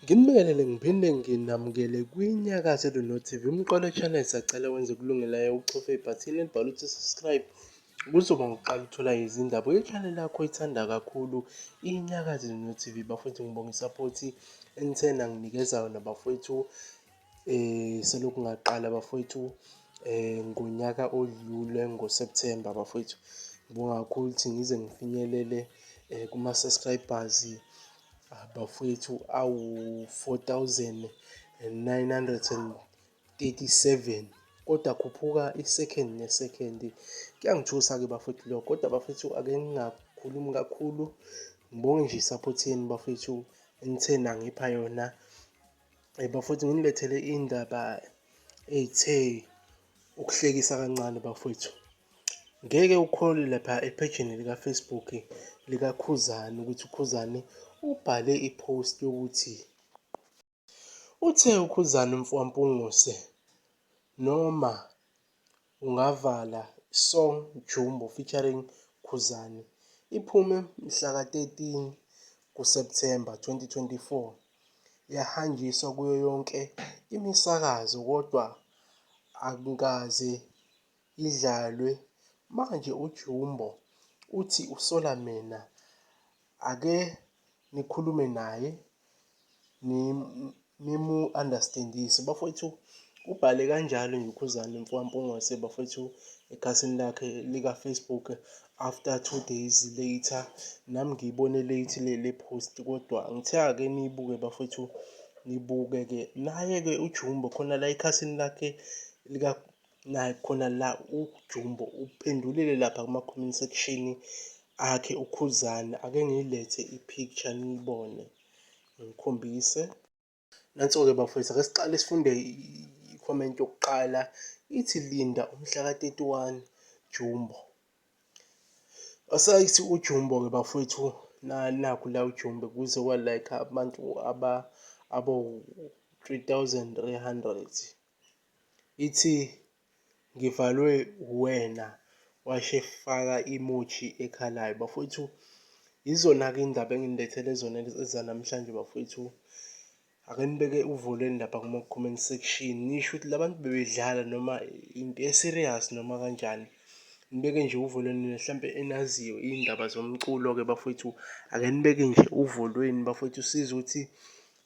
Ngimbekelele ngiphinde nginamukele kwiNyakaze Luno TV umqolo channel sacela wenze kulungelayo uchofe ibhathini elibhalwe ukuthi subscribe kuzoba ngokuqala uthola izindaba ye-channel yakho ithanda kakhulu iNyakaze Luno TV bafowethu ngibonga isaphothi enithena nginikezayo nabafowethu Selokhu ngaqala bafwethu ngonyaka odlule ngo-September bafwethu. Ngibonga kakhulu ukuthi ngize ngifinyelele kuma-subscribers bafwethu awu-four thousand and nine hundred and thirty-seven, kodwa akhuphuka i-second ne-second. Kuyangithusa-ke bafwethu lokho kodwa bafwethu ake ngingakhulumi kakhulu, ngibonge nje i-support yenu bafwethu enithe nangipha yona Eh, bafowethu nginilethele indaba eyithe ukuhlekisa kancane bafowethu. Ngeke ukholwe lapha ephejini likaFacebook likaKhuzani ukuthi uKhuzani ubhale i-post yokuthi uthe uKhuzani mfowampungose noma Ungavala, Song Jumbo featuring Khuzani, iphume mhla ka-13 kuSepthemba 2024. Yahanjiswa kuyo yonke imisakazo kodwa akukaze idlalwe. Manje uJumbo uthi usola mina. Ake nikhulume naye nimu-understand-ise. Bafowethu ubhale kanjalo nje uKhuzani mfokaMpungose bafowethu ekhasini lakhe lika-Facebook after two days later. Nami ngiyibone late le le post kodwa ngithe ake niyibuke bafowethu nibuke-ke. Naye-ke uJumbo khona la ekhasini lakhe naye khona la uJumbo uphendulile lapha kuma-comment section akhe uKhuzani ake ngiyilethe i-picture niyibone ngikhombise nanso-ke bafowethu ake siqale sifunde i-comment yokuqala ithi linda umhlaka 31 Jumbo asayithi uJumbo-ke bafowethu nakhu la uJumbo kuze kwa-like abantu aba abo-3300 ithi ngivalwe uwena washe faka imoji ekhalayo bafowethu. Yizona-ke iy'ndaba engilethele zona ezanamhlanje bafowethu. Ake nibeke uvo lwenu lapha kuma-comment section nisho ukuthi labantu bebedlala noma into e-serious noma kanjani. Nibeke nje uvo lwenu nina hlampe enaziyo iy'ndaba zomculo-ke bafowethu ake nibeke nje uvo lwenu bafowethu sizwe ukuthi